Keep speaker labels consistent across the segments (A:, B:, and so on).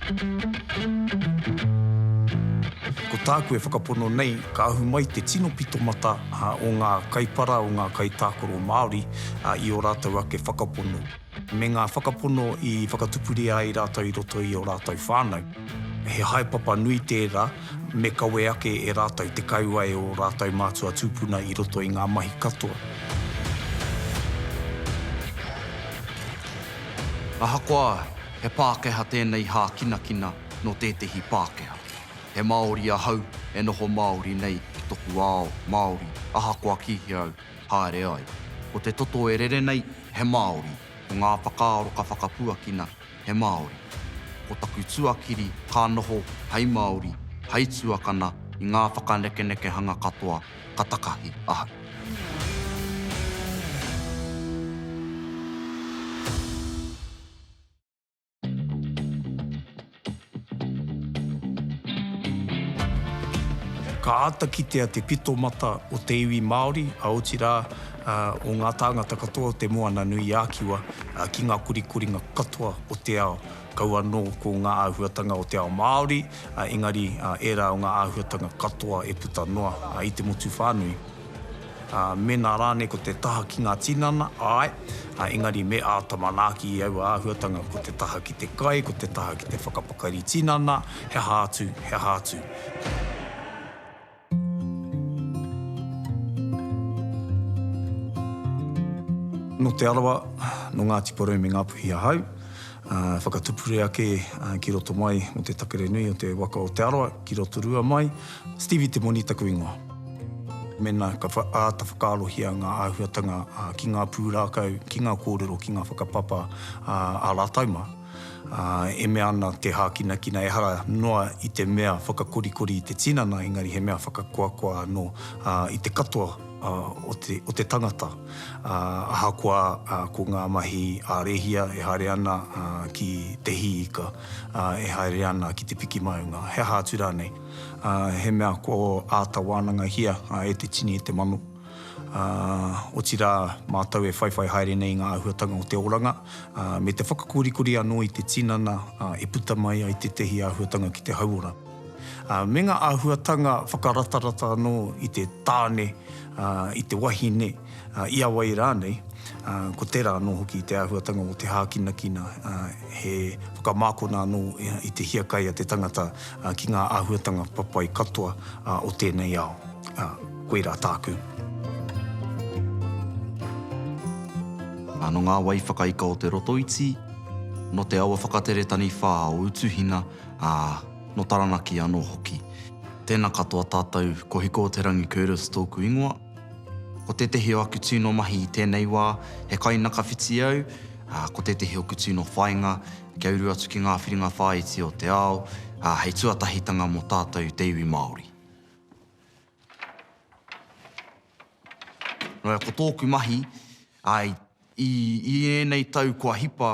A: Ko tāku e whakapono nei, ka ahu mai te tino pito mata o ngā kaipara, o ngā kaitākaro Māori i ō rātou ake whakapono, me ngā whakapono i whakatupuria ai rātou i roto i ō rātou whānau. He haepapa nui tērā, me kawe ake e rātou te kauae o ō rātou mātua tūpuna i roto i ngā mahi katoa.
B: Ahakoa he Pākehā tēnei hākinakina nō tētehi Pākehā, he Māori ahau e noho Māori nei ki toku ao Māori ahakoa kīhea au haere ai. Ko te toto e rere nei, he Māori, ko ngā whakaaro ka whakapuakina, he Māori. Ko taku tuakiri ka noho hei Māori, hei tuakana i ngā whakanekenekehanga katoa ka takahi ahau.
A: Ka āta kitea te pito mata o te iwi Māori, a otirā, o ngā tāngata katoa o te Moana-nui-ā-Kiwa ki ngā korikoringa katoa o te ao. Kau anō ko ngā āhuatanga o te ao Māori, engari ērā o ngā āhuatanga katoa e puta noa i te motu whānui. Mēnā rānei ko te taha ki ngā tinana, āe, engari me āta manaaki i aua āhuatanga, ko te taha ki te kai, ko te taha ki te whakapakari tinana, he aha atu, he aha atu. Nō Te Arawa, nō Ngāti Porou me Ngāpuhi ahau. Whakatupure ake ki roto mai mō te takere nui o te waka o Te Arawa ki Rotorua mai. Stevie Te Moni taku ingoa. Mēnā ka āta whakaarohia ngā āhuatanga ki ngā pūrākau, ki ngā kōrero, ki ngā whakapapa ā rātau mā. Ā, e mea ana te hākinakina ehara noa i te mea whakakorikori i te tinana, engari he mea whakakoakoa anō i te katoa o te tangata, ahakoa ko ngā mahi a Rehia e haere ana ki te hī ika, e haere ana ki te piki maunga, he aha atu rānei. He mea kua āta wānangahia e te tini, e te mano. ā, otirā, mātou e whaiwhai haere nei i ngā āhuatanga o te oranga, ā, me te whakakorikori anō i te tinana, ā, e puta mai ai tētehi āhuatanga ki te hauora. Ā, me ngā āhuatanga whakaratarata anō i te tāne, ā, i te wahine, ā, i a wai rānei, ā, ko tērā anō hoki te āhuatanga o te hākinakina, ā, he whakamākona anō i te hiakai a te tangata, ā, ki ngā āhuatanga papai katoa, ā, o tēnei ao. Ā. Koira tāku.
B: Ano ngā wai whakaika o Te Rotoiti, no te awa whakatere taniwha o Utuhina, a, no Taranaki ano hoki. Tena katoa tatou, ko Hiko-o-te-rangi Curtis tōku ingoa. Ko tētehi o aku tūno mahi i tēnei wā, he kainakawhiti au, a, ko tētehi oku tūno whainga, kia uru atu ki ngā whiringa whāiti o te ao, a, hei tuatahitanga mo tātou te iwi Māori. Ko tōku mahi, āe, i, i ēnei tau kua hipa,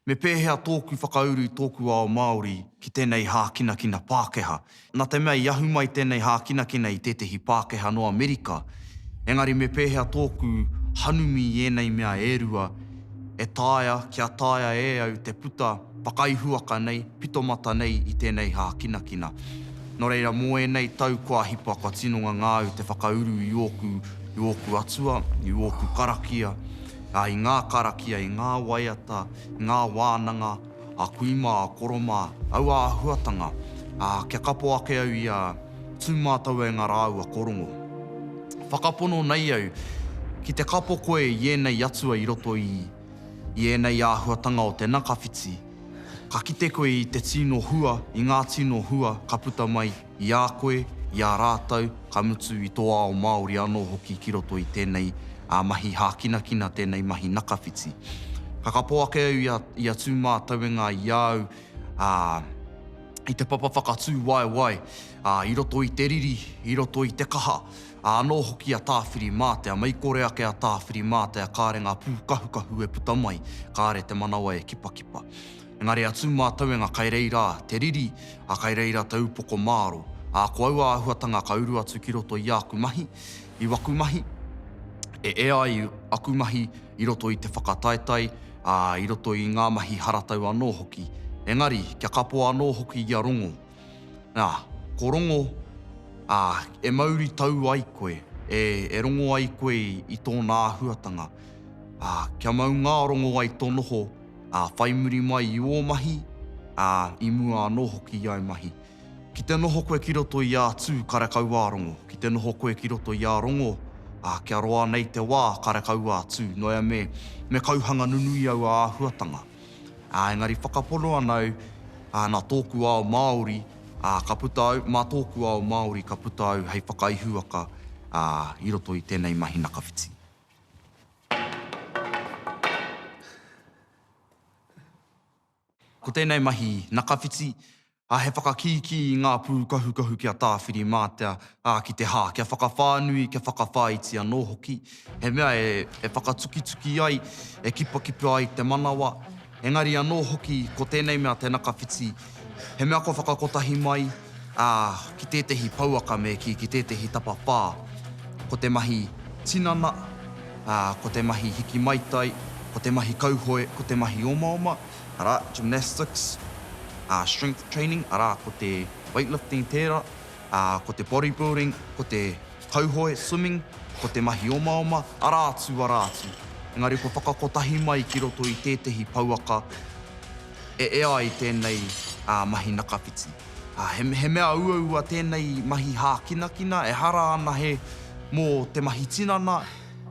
B: me pēhea tōku whakauru i tōku ao Māori ki tēnei hākinakina Pākehā. Nā te mea i ahu mai tēnei hākinakina i tētehi Pākehā nō Amerika, engari me pēhea tōku hanumi i ēnei mea e rua e taea kia taea e au te puta Whakaihuwaka nei, pitomata nei i tēnei hākinakina. Nō reira, mō ēnei tau kua hipa, kua tino ngangāu te whakauru i ōku, i ōku atua, i ōku karakia, ā, i ngā karakia, i ngā waiata, i ngā wānanga, a kui mā, a koro mā, aua āhuatanga, ā, kia kapo ake au i a Tū Mātauenga rāua ko Rongo. Whakapono nei au, ki te kapo koe i ēnei atua i roto i. I ēnei āhuatanga o te nakawhiti, ka kite koe i te tino hua, i ngā tino hua ka puta mai i a koe, i a rātou, ka mutu i tō ao Māori anō hoki ki roto i tēnei mahi hākinakina, tēnei mahi nakawhiti. Ka kapo ake au i a Tūmātauenga i a au i te papa whakatū waewae i roto i te riri, i roto i te kaha, Ā, anō hoki a Tāwhirimātea, mei kore ake a Tāwhirimātea kāre ngā pūkahukahu e puta mai, kāre te manawa e kipakipa. Engari a Tūmātauenga kai reira te riri, ā, kai reira te upoko māro. Ā, ko aua āhuatanga ka uru atu ki roto i āku mahi, i waku mahi, e ea ai aku mahi i roto i te whakataetae, ā, i roto i ngā mahi haratau anō hoki. Engari, kia kapo anō hoki ia rongo. Ā, ko Rongo, ā, e mauri tau ai koe, e, e rongo ai koe i, i tōna āhuatanga, ā, kia mau ngā rongo ai tō noho, ā, whai muri mai i ō mahi, ā, i mua anō hoki i āu mahi. Ki te noho koe ki roto i ā Tū, kare kau ā Rongo. Ki te noho koe ki roto i ā Rongo, ā, kia roa nei te wā, kare kau ā Tū, noea me, me kauhanga nunui aua āhuatanga. Ā, engari whakapono ana au, ā, nā tōku ao Māori, ā, ka puta au, mā tōku ao Māori ka puta au hei whakaihuwaka, ā, i roto i tēnei mahi nakawhiti. Ko tēnei mahi nakawhiti, ā, he whakakīkī i ngā pūkahukahu ki a Tāwhirimātea, ā, ki te hā, kia whakawhānui, kia whakawhāiti anō hoki, he mea e whakatukituki ai, e kipakipa ai te manawa, engari anō hoki ko tēnei mea te nakawhiti, he mea kua whakakotahi mai, ā, ki tētehi pouaka me kī, ki tētehi tapawhā, ko te mahi tinana, ā, ko te mahi hiki maitai, ko te mahi kauhoe, ko te mahi omaoma. arā, gymnastics, ā, strength training, arā, ko te weightlifting tērā, ā, ko te bodybuilding, ko te kauhoe, swimming, ko te mahi omaoma, arā atu, arā atu. Engari kua whakakotahi mai ki roto i tētehi pouaka e ea ai tēnei mahi nakawhiti. He mea uaua tēnei mahi hākinakina, ehara ana he mō te mahi tinana,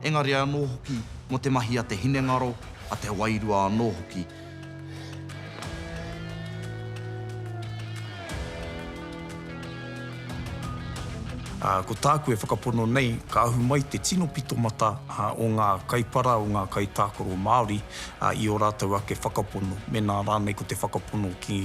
B: engari anō hoki mō te mahi a te hinengaro, a te wairua anō hoki.
A: Ā, ko tāku e whakapono nei, ka ahu mai te tino pitomata o ngā kaipara, o ngā kaitākaro Māori i ō rātou ake whakapono, mēnā rānei ko te whakapono ki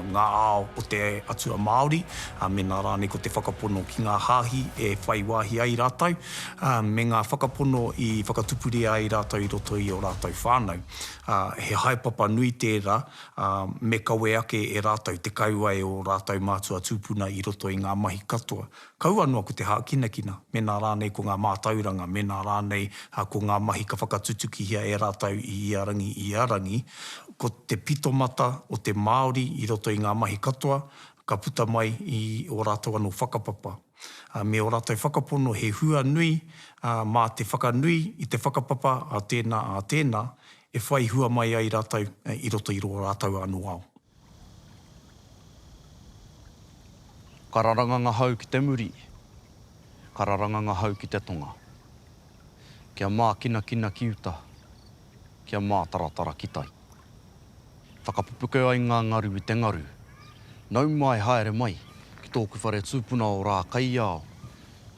A: ngā ao o te atua Māori, mēnā rānei ko te whakapono ki ngā hāhi e whai wāhi ai rātou, ā, me ngā whakapono i whakatupuria ai rātou i roto i ō rātou whānau, ā, he haepapa nui tērā, ā, me kawe ake e rātou te kauae o ō rātou mātua tūpuna i roto i ngā mahi katoa, kaua noa ko te hākinakina, mēnā rānei ko ngā mātauranga, mēnā rānei ko ngā mahi ka whakatutukihia e rātou i ia rangi, i ia rangi, ko te pitomata o te Māori i roto i ngā mahi katoa ka puta mai i ō rātou anō whakapapa. ā, me ō rātou whakapono he hua nui, ā, mā te whakanui i te whakapapa a tēnā, a tēnā, e whai hua mai ai rātou i roto i rō rātou anō ao.
B: Ka raranga ngahau ki te muri, ka raranga ngahau ki te tonga. Kia mākinakina ki uta. kia mātaratara ki tai. Whakapupuke ai ngā ngaru i te ngaru. Nau mai, haere mai, ki tōku whare tūpuna o Rākaiao,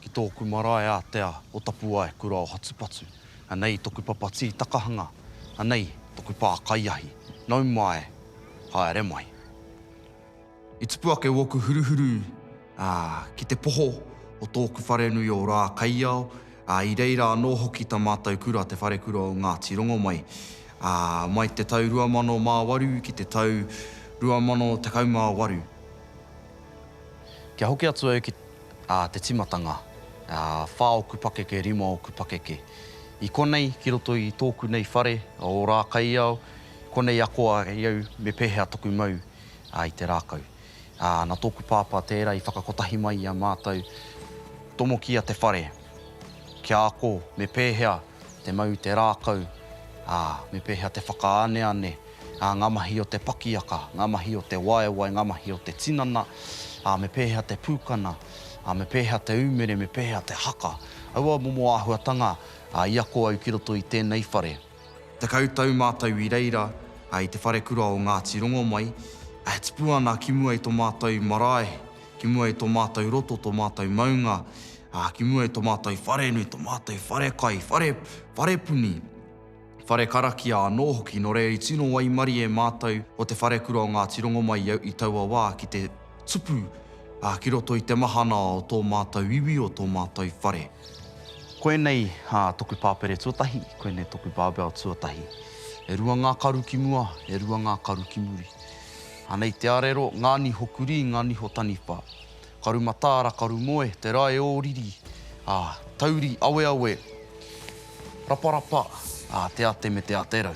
B: ki tōku marae ātea o Tapuaekura o Hatupatu. Anei toku papa tītakahanga, anei toku pā kaiahi. Nau mai, haere mai. I tupu ake ōku huruhuru ki te poho o tōku wharenui o Rākaiao, i reira anō hoki tā mātou kura te Wharekura o Ngāti Rongomai. Mai te tau 2008 ki te tau 2018. Kia hoki atu au ki te tīmatanga, whā ōku pakeke, rima ōku pakeke. I konei ki roto i tōku nei whare o Rākaiao, konei akoa i au me pēhea toku mau. ā, i te rākau. Ā, nā tōku Pāpā tērā i whakakotahi mai i a mātou, tomokia te whare, kia ako me pēhea te mau i te rākau, ā, me pēhea te whakaaneane, ā, ngā mahi o te pakiaka, ngā mahi o te waewae, ngā mahi o te tinana, ā, me pēhea te pūkana, ā, me pēhea te ūmere, me pēhea te haka. Aua momo āhuatanga, ā, i ako au ki roto i tēnei whare. Tekau tau mātou i reira i te wharekura o Ngāti Rongomai, e tipu ana ki mua i tō mātou marae, ki mua i tō mātou roto, tō mātou maunga, ki mua i tō mātou wharenui, tō mātou wharekai, whare, wharepuni, whare karakia anō hoki, nō reira i tino waimarie mātou o te wharekura o Ngāti Rongomai i taua wā ki te. Tupu, ā, ki roto i te mahana o tō mātou iwi, o tō mātou whare. Koinei toku pāpere tuatahi, koinei toku barbell tuatahi. E rua ngā karu ki mua, e rua ngā karu ki muri. Anei te arero, ngā niho kurī, ngā niho taniwha. Karu mataara, karu moe, te rae ō riri, ā, tauri aweawe, raparapa, ā, te ate me te ate rau.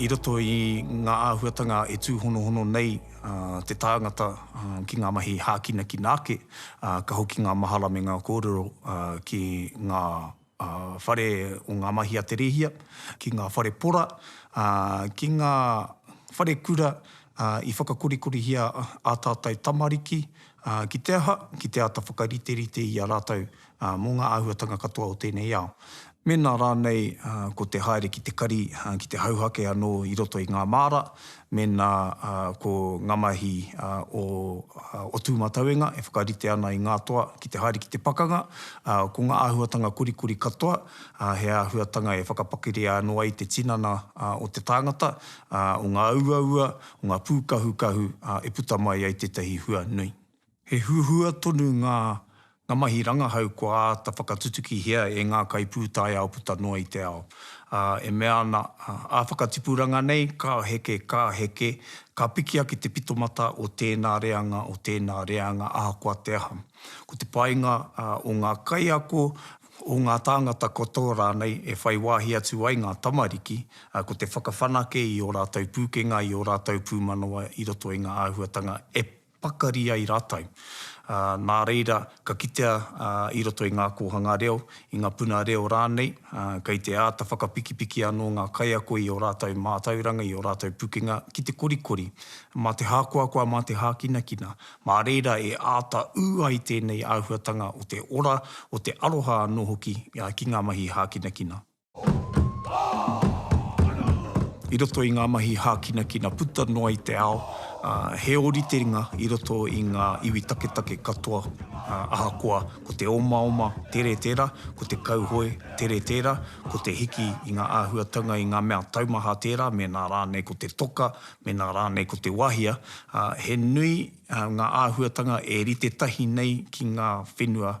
A: I roto i ngā āhuatanga e tūhonohono nei te tāngata ki ngā mahi hākinakina ake, ka hoki ngā mahara me ngā kōrero ki ngā. a whare o ngā mahi a te rēhia, ki ngā whare pora, ā, ki ngā whare kura, ā, i whakakorikorihia ā tātou tamariki, ā, ki te aha, ki te āta whakariterite i a rātou, ā, mō ngā āhuatanga katoa o tēnei ao. Mēnā rānei ko te haere ki te kari, ki te hauhake anō i roto i ngā māra, Mēnā ko ngā mahi o o Tūmatauenga e whakarite ana i ngā toa ki te haere ki te pakanga, ko ngā āhuatanga korikori katoa, he āhuatanga e whakapakeria anō ai te tinana o te tāngata, o ngā uaua, o ngā pūkahukahu e puta mai ai tētahi hua nui. He huhua tonu ngā ngā mahi rangahau kua āta whakatutukihia e ngā kaipūtaiao puta noa i te ao, ā, e mea ana, ā whakatipuranga nei, ka heke, ka heke, ka piki ake te pitomata o tēnā reanga, o tēnā reanga, ahakoa te aha. Ko te painga o ngā kaiako, o ngā tāngata katoa rānei e whai wāhi atu ai ngā tamariki, ko te whakawhanake i ō rātou pūkenga, i ō rātou pūmanawa i roto i ngā āhuatanga e pakari ai rātou. Nā reira, ka kitea i roto i ngā kōhanga reo, i ngā puna reo rānei, kei te āta whakapikipiki anō ngā kaiako i ō rātou mātauranga, i ō rātou pukenga ki te korikori. Mā te hākoakoa, mā te hākinakina, mā reira e āta ū ai tēnei āhuatanga o te ora, o te aroha anō hoki ki ngā mahi hākinakina. I roto i ngā mahi hākinakina puta noa i te ao, he ōritenga i roto i ngā iwi taketake katoa, ahakoa ko te omaoma tere tērā, ko te kauhoe tere tērā, ko te hiki i ngā āhuatanga i ngā mea taumaha tērā, mēnā rānei ko te toka, mēnā rānei ko te wahia, he nui ngā āhuatanga e rite tahi nei ki ngā whenua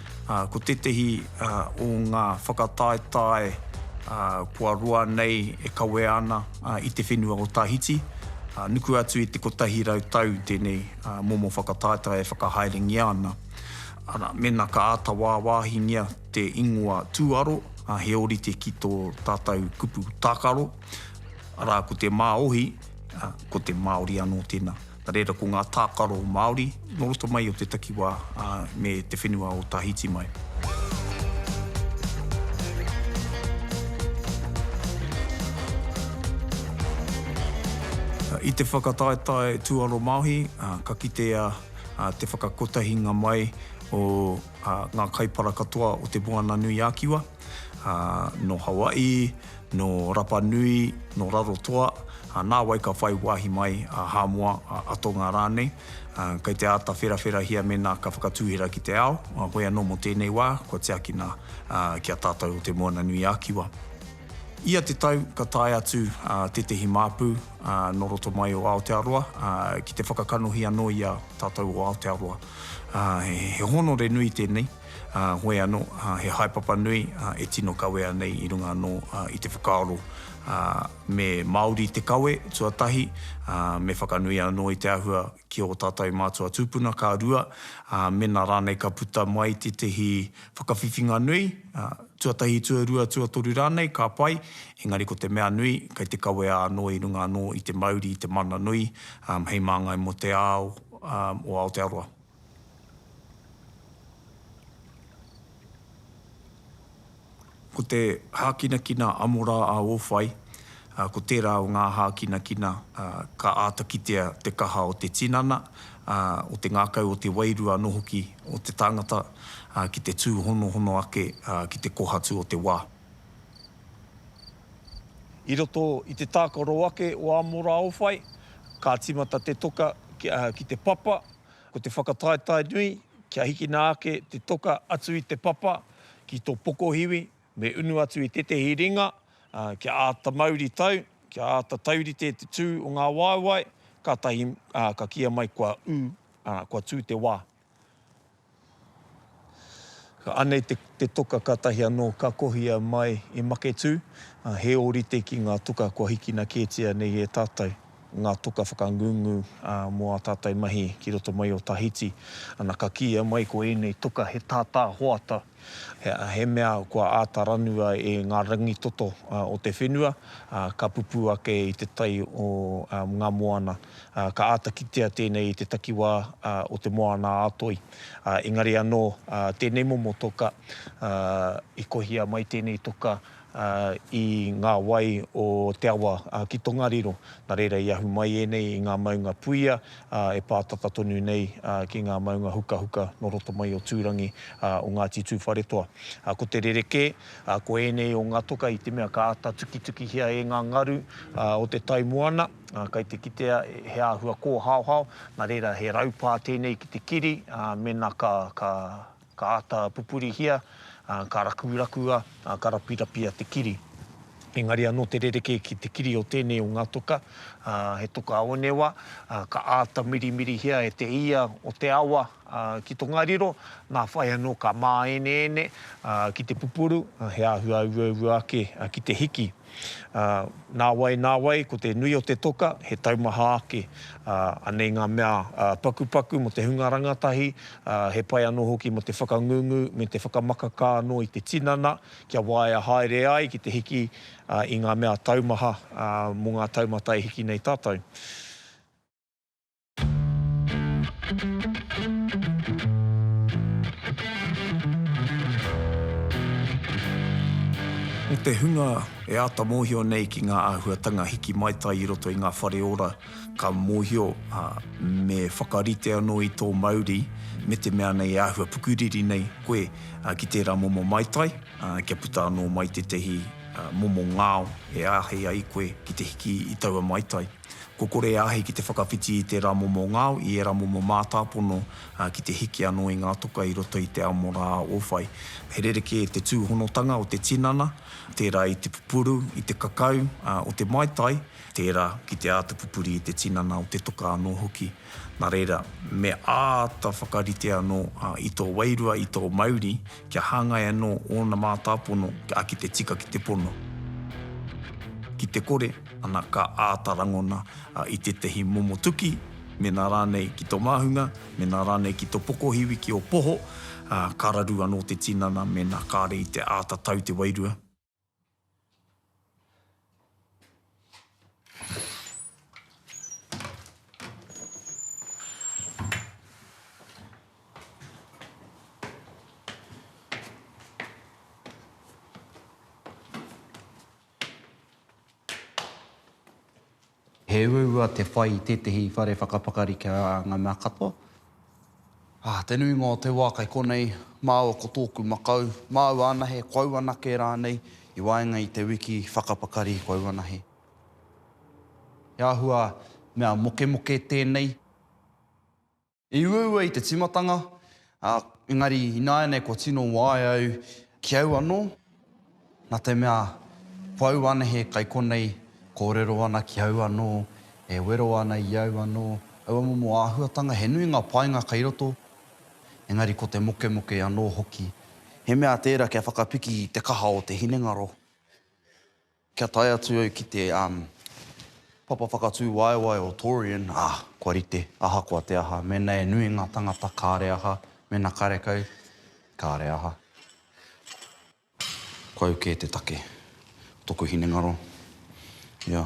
A: Ko tētehi o ngā whakataetae kua roa nei e kawea ana i te whenua o Tahiti. Nuku atu i te 100 tau tēnei momo whakataetae e whakahaerengia ana. Arā, mēnā ka āta wāwāhingia te ingoa tūaro, he ōrite ki tō tātou kupu tākaro, arā, ko te Māohi, ko te Māori anō tēnā. Nā reira, ko ngā tākaro Māori nō roto mai o te takiwā me te whenua o Tahiti mai. I te whakataetae tūaromāohi, ka kitea te whakakotahinga mai o ngā kaipara katoa o Te Moananui-a-Kiwa. ā, nō Hawaii, nō Rapa Nui, nō Rarotoa, ā, nāwai ka whai wāhi mai a Hāmoa, a Atonga rānei, ā, kei te āta wherawherahia mēnā ka whakatūhera ki te ao, ā, hoi anō mō tēnei wā, kua tiakina, ā, ki a tātou o Te Moana-nui-a-Kiwa. Ia te tau ka tae atu, ā, tētehi māpu, ā, nō roto mai o Aotearoa, ā, ki te whakakanohi anō i a tātou o Aotearoa. Ā, he hōnore nui tēnei. ā, hoi anō, he haepapa nui e tino kawea nei i runga anō i te whakaaro, ā, me Māori te kawe, tuatahi, ā, me whakanui anō i te āhua ki ō tātou mātua tūpuna, ka rua, ā, mēnā rānei ka puta mai tētehi whakawhiwhinga nui, ā, tuatahi, tuarua, tuatoru rānei, ka pai, engari ko te mea nui, kei te kawea anō i runga anō i te mauri, i te mana nui, ā, hei māngai mō te ao, ā, o Aotearoa. Ko te hākinakina amora a Ōwhai, ko tērā o ngā hākinakina ka āta kitea te kaha o te tinana, o te ngākau, o te wairua anō hoki o te tangata ki te tūhonohono ake ki te kohatu o te wā. I roto i te tākaro ake o Amora Ōwhai, ka tīmata te toka ki te papa. Ko te whakataetae nui, kia hikina ake te toka atu i te papa ki tō pokohiwi, me unu atu i tētehi ringa, ā, kia āta mauri tau, kia āta taurite te tū o ngā waewae, kātahi, ā, ka kīia mai kua ū, ā, kua tū te wā. Anei te toka katahi anō ka kohia mai i Maketū, he ōrite ki ngā toka kua hikina kētia nei e tātou, ngā toka whakangungu mō ā tātou mahi ki roto mai o Tahiti. Ana, ka kīia mai ko ēnei toka he tātā hoata, he mea kua āta ranua e ngā rangitoto o te whenua, ka pupū ake i te tai o ngā moana Ka āta kitea tēnei i te takiwā o te Moana-a-Toi. Engari anō, tēnei momo toka, i kohia mai tēnei toka i ngā wai o te awa ki Tongariro. Nā reira i ahu mai ēnei i ngā maunga puia e pā tata tonu nei ki ngā maunga hukahuka nō roto mai o Tūrangi o Ngāti Tūwharetoa. Ko te rerekē, ko ēnei o ngā toka i te mea ka āta tukitukihia e ngā ngaru o te tai moana. Ā, kei te kitea he āhua kōhaohao, nā reira he raupā tēnei ki te kiri, ā, mēnā ka, ka, ka āta pupurihia, ā, ka rakurakua, ā, ka rapirapia te kiri. Engari anō te rerekē ki te kiri o tēnei o ngā toka, ā, he toka onewa, ā, ka āta mirimirihia e te ia o te awa, ā, ki tongariro, nā whai anō ka māeneene, ā, ki te pupuru, ā, he āhua auaua ake, ā, ki te hiki. Ā, nāwai, nāwai, ko te nui o te toka, he taumaha ake. Ā, anei ngā mea pakupaku mō te hunga rangatahi, ā, he pai anō hoki mō te whakangungu me te whakamakakā anō i te tinana, kia waea haere ai ki te hiki i ngā mea taumaha mō ngā taumata e hiki nei tātou. Ko te hunga e āta mōhio nei ki ngā āhuatanga hiki maitai i roto i ngā whare ora, ka mōhio, ā, me whakarite anō i tō mauri me te mea nei e āhua pukuriri nei koe ki tērā momo maitai, ā, kia puta anō mai tētahi momo ngao e āhei ai koe ki te hiki i taua maitai. Kua kore e āhei ki te whakawhiti i tērā momo ngao, i ērā momo mātāpono, ā, ki te hiki anō i ngā toka i roto i te amo rā o whai. He rerekē te tūhonotanga o te tinana, tērā i te pupuru, i te kakau, ā, o te maitai, tērā ki te āta pupuri i te tinana o te toka anō hoki. Nā reira, me āta whakarite anō i tō wairua, i tō mauri, kia hāngai anō ōna mātāpono, ā, ki te tika ki te pono. Ki te kore. Ana ka āta rangona i tētahi momo tuki, mēnā rānei ki tō māhunga, mēnā rānei ki tō pokohiwi, ki ō poho, ka raru anō te tinana mēnā kāre i te āta tau te wairua.
B: He uaua te whai i tētehi whare whakapakari ki a ngā mea katoa. Ah, te nuinga o te wā kei konei, māua ko tōku makau, māua anahe, ko au anake rānei, i waenga i te wiki whakapakari ko au anahe. He āhua mea mokemoke tēnei. I uaua i te tīmatanga, ā, engari ināianei kua tino waea au ki au anō, nā te mea pau anahe kai konei kōrero ana ki au anō, e wero ana i au anō, aua momo āhuatanga, he nui ngā painga kai roto, engari ko te mokemoke anō hoki. He mea tērā kia whakapiki i te kaha o te hinengaro. Kia tae atu au ki te papa whakatūwaewae o Torreon, ā, kua rite, ahakoa te aha. Mēnā e nui ngā tangata, kāre aha, mēnā karekau, kāre aha. Kua au kē te take o tōku hinengaro, ia.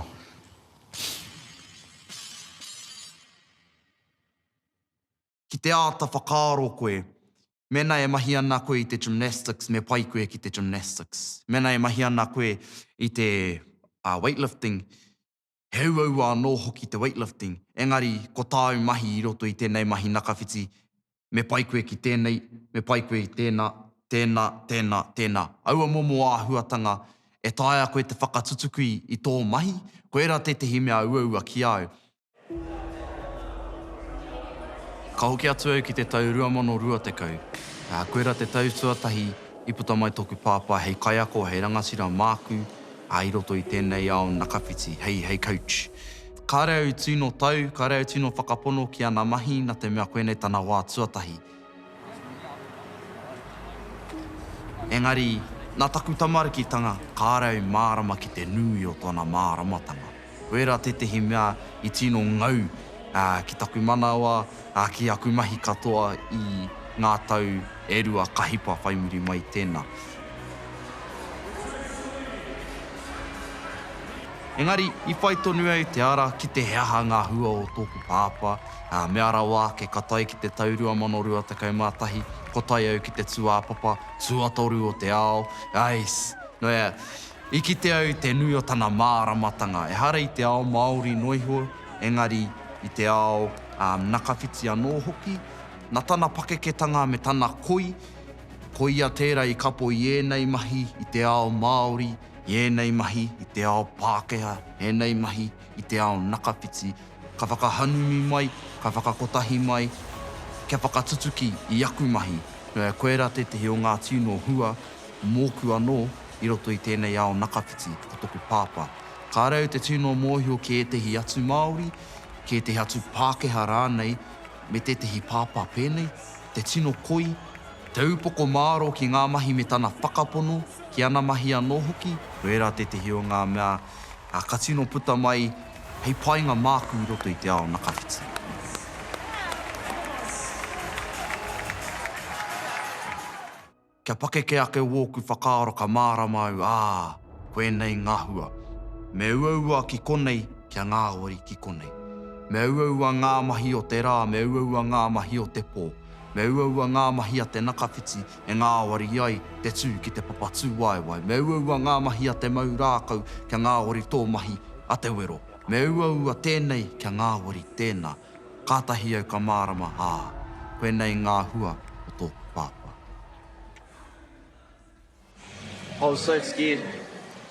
B: ki te āta whakaaro koe, mēnā e mahi ana koe i te gymnastics, me pai koe ki te gymnastics. Mēnā e mahi ana koe i te weightlifting, he uaua anō hoki te weightlifting. Engari, ko tāu mahi i roto i tēnei mahi nakawhiti, me pai koe ki tēnei, me pai koe i tēnā, tēnā, tēnā, tēnā. Aua momo āhuatanga e taea koe te whakatutuki i tō mahi, koirā tētehi mea uaua ki a au. Ka hoki atu au ki te tau 2020, ā, koirā te tau tuatahi i puta mai tōku pāpā hei kaiako, hei rangatira māku, ā, i roto i tēnei ao nakawhiti, hei, hei coach. Kāre au tino tau, kāre au tino whakapono ki ana mahi nā te mea koinei tana wā tuatahi. Engari, nā taku tamarikitanga, kāre au mārama ki te nui o tōna māramatanga. Koirā tētehi mea i tino ngau ki taku manawa, ki aku mahi katoa i ngā tau e rua ka hipa whai muri mai tēnā. Engari, i whai tonu au te ara ki te he aha ngā hua o tōku pāpā. Ā, mea rawa ake, ka tae ki te tau 2021, ko tae au ki te tūāpapa tuatoru o te ao, ais, nō hea, i kite au te nui o tana māramatanga, ehara i te ao Māori noa iho, engari i te ao nakawhiti anō hoki, nā tana pakeketanga me tana koi, ko ia tērā i kapo i ēnei mahi i te ao Māori, i ēnei mahi i te ao Pākehā, ēnei mahi, i te ao nakawhiti, ka whakahanumi mai, ka whakakotahi mai, kia whakatutuki i aku mahi. Koirā tētehi o ngā tino hua mōku anō i roto i tēnei ao nakawhiti, ko toku pāpā. Kāre au te tino mōhio ki ētehi atu Māori, ki ētehi atu Pākehā rānei, me tētehi pāpā pēnei, te tino koi, te upoko māro ki ngā mahi me tana whakapono, ki ana mahi anō hoki, koirā tētehi o ngā mea Ā, ka tino puta mai hei painga māku i roto i te ao nakawhiti. Kia pakeke ake wōku whakaaro ka mārama au, ā, koinei ngā hua. Me uaua ki konei, kia ngāwari ki konei. Me uaua ngā mahi o te rā, me uaua ngā mahi o te pō. Me uaua ngā mahi a te nakawhiti, e ngāwari ai te tū ki te papa tūwaewae. Me uaua ngā mahi a te mau rākau kia ngāwari tō mahi a te wero. Me uaua tēnei kia ngāwari tēnā. Kātahi au ka mārama, ā, koinei ngā hua o tōku pāpā. I was
C: so scared.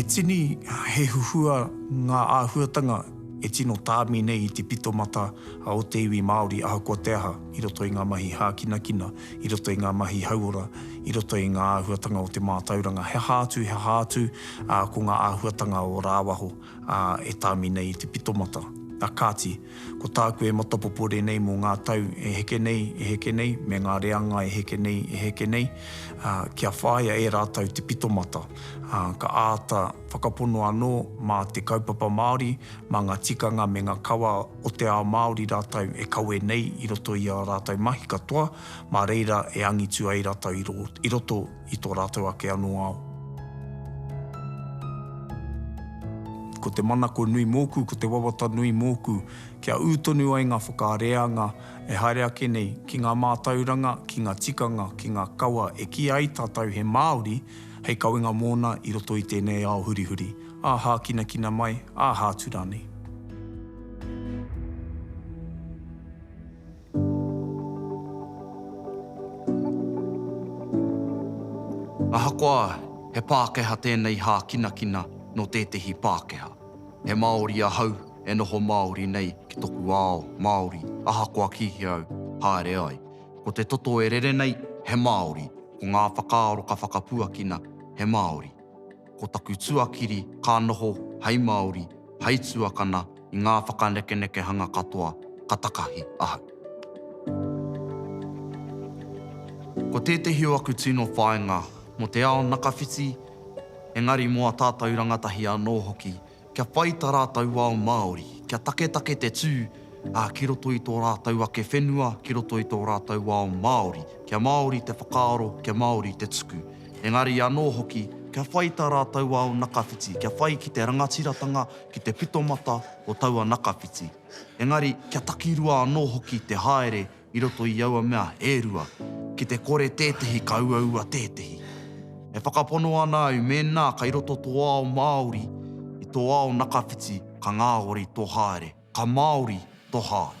A: He tini, he huhua ngā āhuatanga e tino tāmi nei i te pitomata o te iwi Māori ahakoa te aha i roto i ngā mahi hākinakina. i roto i ngā mahi hauora, i roto i ngā āhuatanga o te mātauranga, he aha atu, he aha atu, ā, ko ngā āhuatanga o rāwaho, ā, e tāmi nei i te pitomata. Ā kāti, ko tāku e matapopore nei mō ngā tau e heke nei, e heke nei, me ngā reanga e heke nei, e heke nei, ā, kia whāia e rātou te pitomata, ā, ka āta whakapono anō mā te kaupapa Māori, mā ngā tikanga me ngā kawa o te ao Māori rātou e kawe nei i roto i ā rātou mahi katoa, mā reira e angitu ai rātou i roto i tō rātou ake anō ao. Ko te manako nui mōku, ko te wawata nui mōku, kia ū tonu ai ngā whakareanga e haere ake nei ki ngā mātauranga, ki ngā tikanga, ki ngā kawa e kīia ai tātou he Māori hei kawenga mōna i roto i tēnei ao hurihuri. Ā hākinakina mai, ā hātu rānei.
B: Ahakoa he Pākehā tēnei hākinakina nō tētehi Pākehā, he Māori ahau e noho Māori nei ki toku ao Māori ahakoa kīhia au haere ai. Ko te toto e rere nei, he Māori, ko ngā whakaaro ka whakapuakina, he Māori. ko taku tuakiri ka noho hei Māori, hei tuakana i ngā whakanekenekehanga katoa ka takahi ahau. Ko tētehi o aku tino whāinga mō te ao nakawhiti, engari mō a tātou rangatahi anō hoki, kia whai ta rātou ao Māori, kia taketake te tū, ā, ki roto i tō rātou ake whenua, ki roto i tō rātou ao Māori, kia Māori te whakaaro, kia Māori te tuku. Engari anō hoki, kia whai tā rātou ao nakawhiti, kia whai ki te rangatiratanga, ki te pitomata o taua nakawhiti. Engari, kia takirua anō hoki te haere i roto i aua mea e rua, ki te kore tētehi ka uaua tētehi. E whakapono ana au mēnā kei roto tō ao Māori i tō ao nakawhiti ka ngāori tō haere, ka Māori tō haere.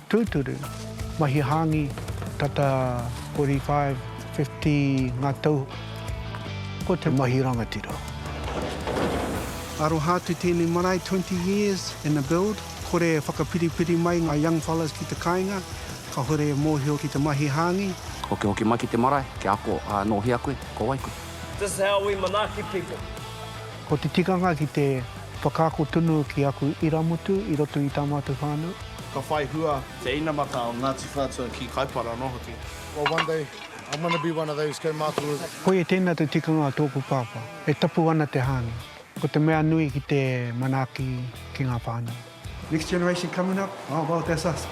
D: Tūturu, mahi hāngi, tata 45, 50 ngā tau, ko te mahi rangatira. Aroha atu tēnei marae, 20 years in the build, kore e whakapiripiri mai ngā young fellas ki te kāinga, kahore e mōhio ki te mahi hāngi. Hokihoki mai ki te
E: marae, kia ako, ā, nō hea koe, ko wai koe? This is how we
F: manaaki people. Ko te
D: tikanga ki te whakaako tonu ki aku irāmutu i roto i tā mātou whānau. Ka whai hua
G: te inamata o Ngāti Whātua ki Kaipara anō hoki. Well one day I'm going to be one of those kaumātua. Koia tēnā te
D: tikanga o tōku pāpā. E tapu ana te hāngai. Ko te mea nui ki te manaaki ki ngā whānau. Next generation coming up, oh well that's us.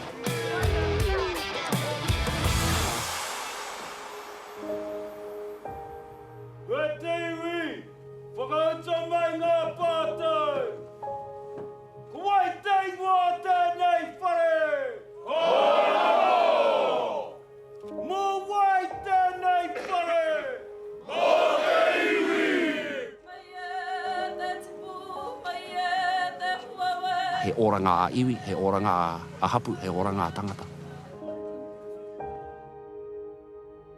D: Whakauta mai ngā pātai. Ko wai te ingoa
E: o tēnei whare? Kōrero! Mō wai tēnei whare? Mō te iwi! Mai e te tipu, mai e te huawe. He oranga a iwi, he oranga a hapu, he oranga a tangata.